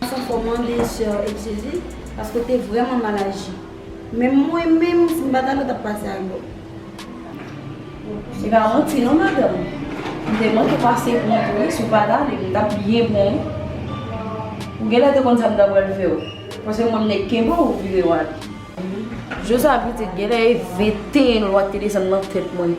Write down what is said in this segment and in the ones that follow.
Gason fò mande soeur excuzi paske ou te vreman mal aji men mwen menm si m pat ale ou tap pase ak bò. Se pa manti non madanm ou te manke pase pou mwen tou wi si w pat ale m tap byen pran w ou genlè te konn sa m ta pral fè w paske mwen m nèg kenbe w vire w ale. Josua pitit genlè e 21 lwa te desann nan tèt mwen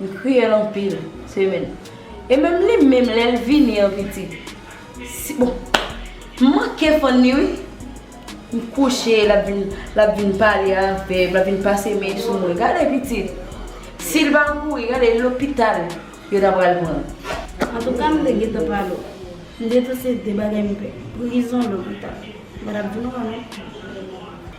M kriyel anpil semenn. E menm li menm lel vini an pitit si bon m manke fann li wi m kouche lap vin lap vin pale avem lap vin pase men sou mwen gade pitit sil pa kouri gade lopital yo ta pral pranl. Antouka m te gentan pa lo. M de tou se de bagay m pè. Prizon, lopital. Bagay ap di nou an non.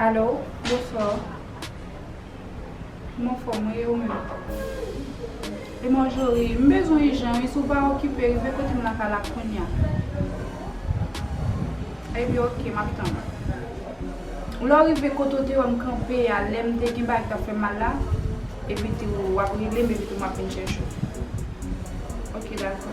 Allo bonswa w kman fò mwen ye ou menm. E Marjorie, M bezwen w ijan wi, si w pa okipe, rive kote m lakay la kounya. Epi ok, m ap tann ou. Lè w rive kote w te wè m kanpe a lè m te gen bagay ki t ap fè m mal la, epi tou w ap rele m epi tou m ap vin chèche w. Ok dakò.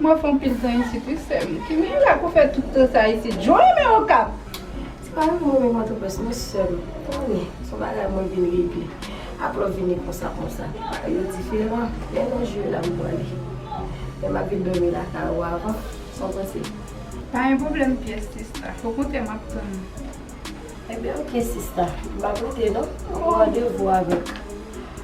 M off anpil tan isit wi sèm. Kimen ou la pou fè tout tan sa isit? Joe men okap! Se pa yon move pòtoprens non sèm. Konnen, se yon bagay mwen vin regle. Aprè ou vini konsa konsa. Bagay yo diferan. Men non Joe la m pwale. Men m ap vin dòmi lakay ou avan. Sa w panse? Pa gen pwoblèm pyès sista. Okontrè m ap tann ou. Enben ok sista. M ap rete non. M gen randevou avèk.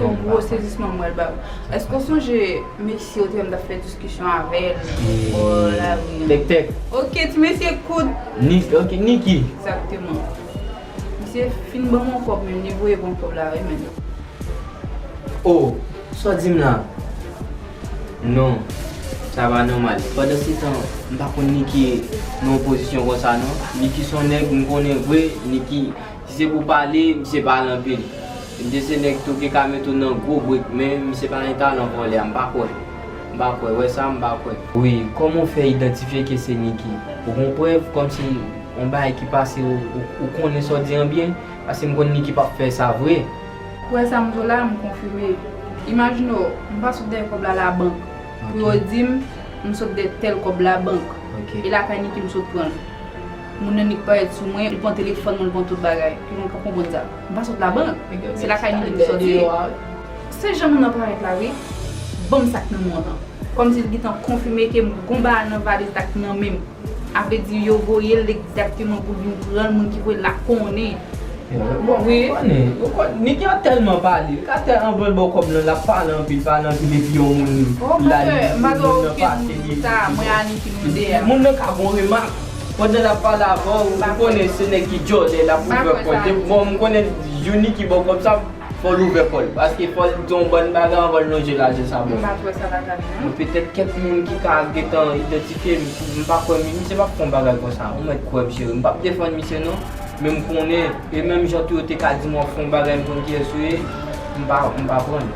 Yon gwo sezisman mwen ba ou. Eske w sonje mesye ou te wè m t ap fè diskisyon avè l bò lari an? Tektèk. Ok, ti mesye kout. Niki, ok, Niki. Egzakteman. Misye fin ban m yon kòb menm, li voye ban m kòb la wi menn. O, sa w di m la? Non, sa pa nòmal. Pandansetan, m pa konn Niki nan yon pozisyon konsa non. Niki s on nèg m konnen vre, Niki, si se pou pale, misye pale anpil. Dese nèg tou ki ka met ou nan gwo brik men misye pa gen talan vòlè a m pa kwè m pa kwè wè sa m pa kwè. Wi kòman w fè idantifye ke se Niki? Ou gon prèv kòmsi yon bagay ki pase ou konnen sa w di an byen? Paske m konn Niki pap fè sa vre. Kwè sa m di w la m konfime. Imajine w m pa sot dèyè kòb la labank pou yo di m m sot dèyè tèl kòb labank e lakay Niki m sot pran l. Moun nan Niki parèt sou mwen, li pran telefòn mwen, li pran tout bagay. Tout moun k ap konprann sa. M pa sot la bank, se lakay nou depi sòti. Se jan moun nan parèt la wi. Ban m sak nan mwen lan. Kòm si l gentan konfime ke m gon bagay nan valiz la ki nan men m. A vle di yo voye l egzakteman pou l vin pran l, moun ki voye l la konnen. Bon, li konnen. Nèg yo tèlman pale. Li ka fè anvan l ba w kòb lan, l ap pale anpil, pale anpil epi yon moun la li, moun nan pase li epi li di bon. Moun nan ka gon remak. Pandan lap pale avè w ou konnen se nèg ki djòlè lap ouvè kòl de bon m konnen Youni ki bò kòb sa fòl ouvè kòl paske fòl di yon bann bagay anvan l lonje lajan sa bò m petèt kèk moun ki ka gentan idantifye m m pa kwè misye pap fè yon bagay konsa ou mèt kwè m cheri m pap defann misye non men m konnen e menm jan tou yo te ka di m wap fè yon bagay m konn kiyès ou ye m pa pran l.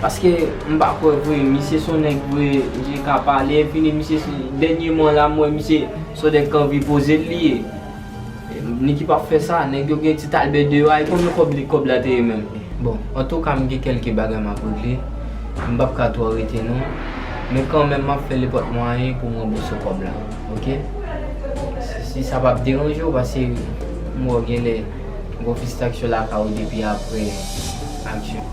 Paske m pa kwè vre misye son nèg vre misye ka pale enfini misye se dènyeman la m wè misye son nèg k anvi poze l li ye Niki pap fè sa nèg yo gen Tit Albert deyò a e konbyen kòb li kòb la te ye menm Bon antouka m gen kèlke bagay m ap regle m pap ka twò rete non men kanmenm m ap fè le pòt mwayen pou m ranbouse w kòb la ok si sa pap deranje w paske m wè w genlè gen yon pistaksyon lakay ou depi aprè aksyon.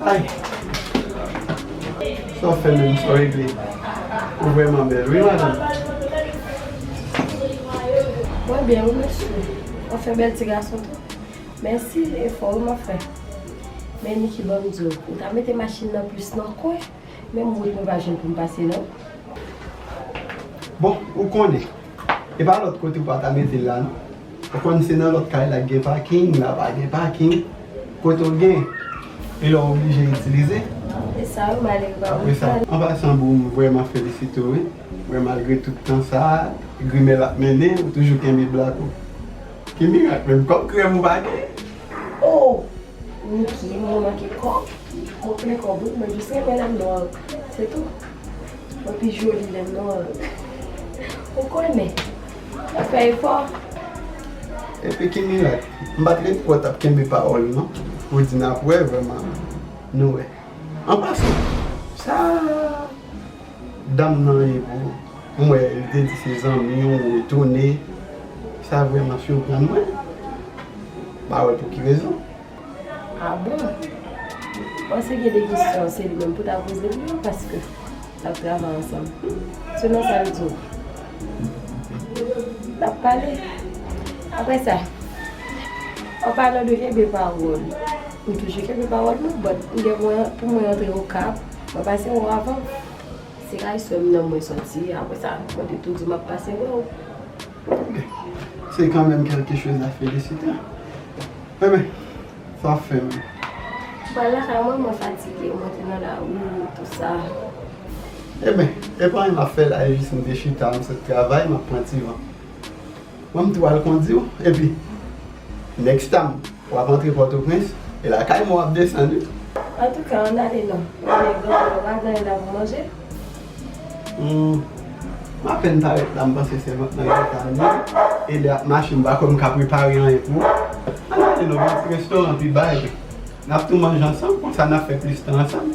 Hi Sa wap fè menm sa w regle Ou vrèman bèl wi madanm Mwen byen wi mesye Wap fè bèl ti gason tou Mèsi efò w wap fè Men Niki ban m di w Ou ta mete machin nan plis nan kwen Menm wout mwen pa jwenn pou m pase non Bon ou konnen E pa lòt kote ou pa ta mete l la non Ou konn se nan lòt kay la k gen paking, la pa gen paking. Kote w gen, e lè w oblije itilize. Apre sa yo male yo ba ou l kado. An pasan boo m vrèman felisite w wi, wè malgre tout tan sa, grimè l ap mennen, ou toujou kenbe blak ou. Ki mirak menm, kòk krèm ou pa gen? Oh! Niki, mwen manke kòk, mwen plen kòb wi, mwen jis renmen lè m nwal, se tou. Mwen pi joli lè m nwal, ou konnen. Wap fè efò. Epi ki mirak. M pat ret kwè w tap kenbe pawòl non. Ou di nap wè vrèman nou wè. An pasan, sa dam nan ye pou ou? M wè li te di se zanmi w ou retounen. Sa vrèman siprann mwen. Pa wè pou ki rezon. Ah bon? Bon si gen 2 kesyon se li menm pou ta poze l yo paske nap travay ansanm. Selon sa l di w nap pale. Aprè sa an palan de kenbe pawòl, m toujou kenbe pawòl mwen but m gen pou pou mwen antre okap mwen pase wè w avan. Se kay sè m nan mwen soti aprè sa mwen te tou di w map pase wè w. Se kan menm kelke choz a felisite. He men, sa wap fe menm? M pral lakay mwen, mwen fatige, mwen te nan lari tout sa. He men, e pa anyen map fe la e jis m te chita m sot travay map pran ti van. Bon m tou al kondiw epi next time. Wap antre pòtoprens e lakay mwen wap desann wi. Antouka ann ale non. Gade granmoun ou pa gen dan pou manje. Humm m apèn parèt la m panse sèvant lan gentan ale e lè ap mache m pa kwè m ka prepare anyen pou ou. Ann ale non gen ti restoran pi ba epi nap tou manje ansanm konsa nap fè plis tan ansanm.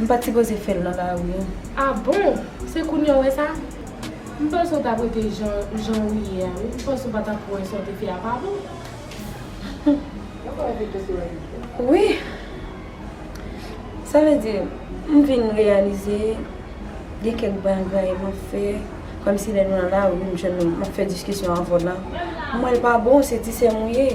M pat sipoze fèl nan lari an. Ah bon! Se kounye w wè sa? M panse w tap rete jan jan ou ye a wi, m panse w pa tap wè sa w te fè a pa bon. Wi! Sa vle di m vin reyalize gen kèk bagay map fè kòmsi lè nou nan lari m jwenn nou map fè diskisyon avè w la m wè l pa bon se ti sè m ou ye.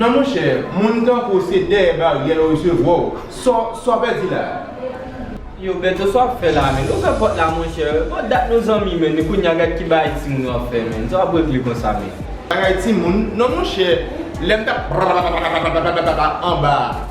Non monchè, moun tankou w se dèyè baryè yo resevwa w. Sa w pèdi la a? Yo Beto sa wap fè la menn ouvè pòt la monchè bon dat nou zanmi menn kounya gad ki bagay timoun yo ap fè menn sa wap regle konsa menn. Bagay timoun non monchè lèm tap prapapapapapapapapa anba a.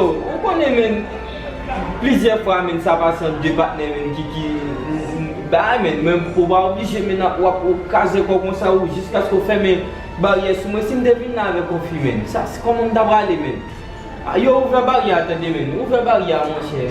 Ou konnen men plizyè fwa men sa pase ant 2 patnè men ki ki bay men men ou pa oblije men ap wap kaze kò konsa ou jiskaske ou fèmen baryè sou mwen sim te vin la avèk yon fi men sa se kòman m ta prale men yo ouvè baryè a tande men ouvè baryè a monchè.